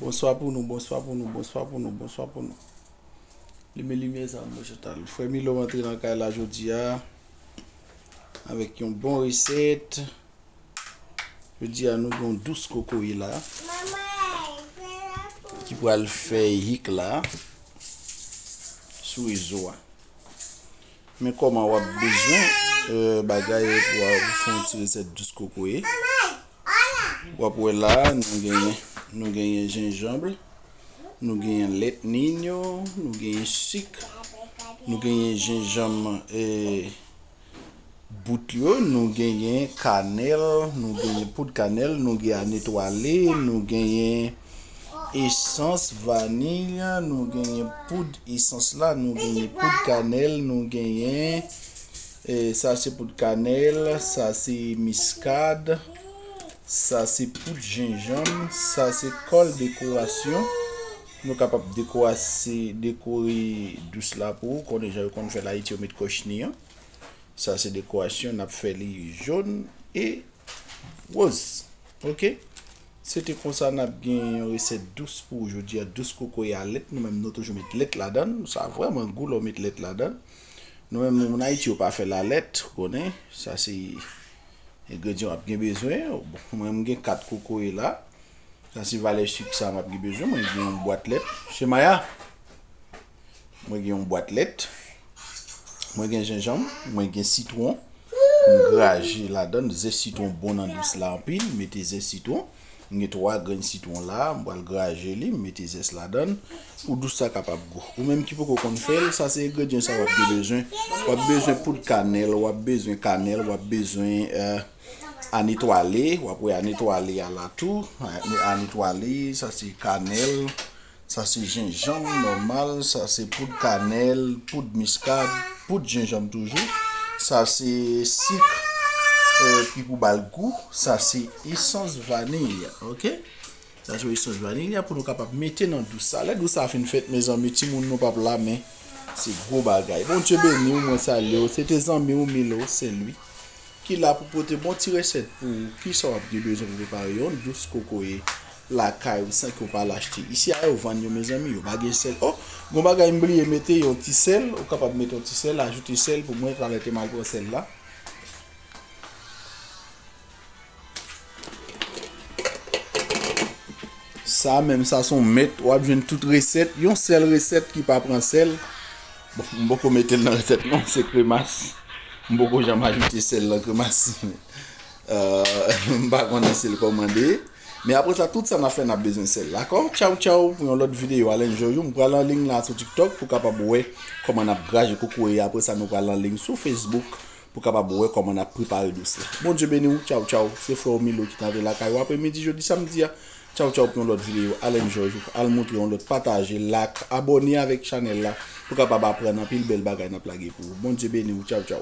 Bonswa pou nou bonswa pou nou bonswa pou nou bonswa pou nou limen limyè sa mwen jèt al frè milo antre nan kay la jodi a avèk yon bon resèt jodi a nou gon dous kokoye la ki pral fè hik la sou rezo a Men koman wap bezwen bagay pou wap fè yon ti resèt dous kokoye. Wap wè la nou genyen nou genyen jenjanb, nou genyen lèt ninyo, nou genyen sik, nou genyen jenjanm e bout yo, nou genyen kanèl, nou genyen poud kanèl, nou genyen anetwale, nou genyen Esans vanil, nou genyen poud esans la, nou genyen poud kanèl, nou genyen e sa se poud kanèl, sa se miskad, sa se poud jenjanm, sa se kòl dekorasyon. Nou kapab dekorase dekore dous la pou ou konnen jan yo konn fèl Ayiti yo met kòchni an. Sa se dekorasyon n ap fè li jòn e woz. Ok se te konsa nap gen yon resèt dous pou ou jodia dous kokoye a lèt nou menm nou toujou met lèt ladann sa vrèman gou lè ou met lèt ladann nou menm moun ayiti yo pa fè la lèt ou konnen sa se engredyan wap gen bezwen mwen m gen 4 kokoye la sa se valè sik sa map gen bezwen mwen gen yon bwat lèt se maya. Mwen gen yon bwat lèt. Mwen gen jenjanm. Mwen gen sitwon. Mwen graje la dan. Ze sitwon bon nan dous la anpil. Mwen mete ze sitwon. Mwen gen 3 grenn sitwon la. Mwen bal graje li. Mwen mete ze la dan. Pou dous la kapab gou. Ou menm ki poko konn fèl. Sa se egredyen sa wap gen bezwen. Wap bezwen poud kanèl. Wap bezwen kanèl. Wap bezwen ane twale. Wap wè ane twale a la tou. Ane twale. Sa se kanèl. Sa se jenjanm nòmal, sa se poud kanèl, poud miskad, poud jenjanm toujou, sa se sik ki pou bal gou, sa se esans vanilya ok. Sa se esans vanilya pou nou kapab mete nan dous sa. Lè dous sa fin fèt mezanmi timoun nou pap la men se gwo bagay. Bondye beniw mwen salyew se te zanmiw Milo Senlwi ki la pou pote bon ti resèt pou ou. Kisa wap gen bezwen pou prepare yon dous kokoye lakay ou san ke ou pa al achte isi a yo vann yo mezanmi yo pa gen sèl oh gon bagay m bliye mete yon ti sèl ou kapab mete yon ti sèl ajoute sèl pou mwen talè ke m al pran sèl la. Sa menm sa son mèt wap jwenn tout resèt yon sèl resèt ki pa pran sèl bon m poko mete l nan resèt non se kremas m poko janm ajoute sèl nan kremas m pa konnen si l kòmande. Men apre sa tout sa nap fè nap bezwen sèl dakò tchaw tchaw pou yon lòt video al enjoy ou m pral anliy la sou tiktok pou kapab wè kòman nap graje kokoye apre sa nou pral anliy sou facebook pou kapab wè kòman nap prepare dous la Bondye beni ou tchaw tchaw se frè ou Milo ki ta ve lakay ou apre midi jodi samdi a tchaw tchaw pou yon lòt video al enjoy ou al moutre yon lòt pataje lak abòne avèk chanèl la pou kapab aprann anpil bèl bagay nap lage pou ou Bondye beni ou tchaw tchaw.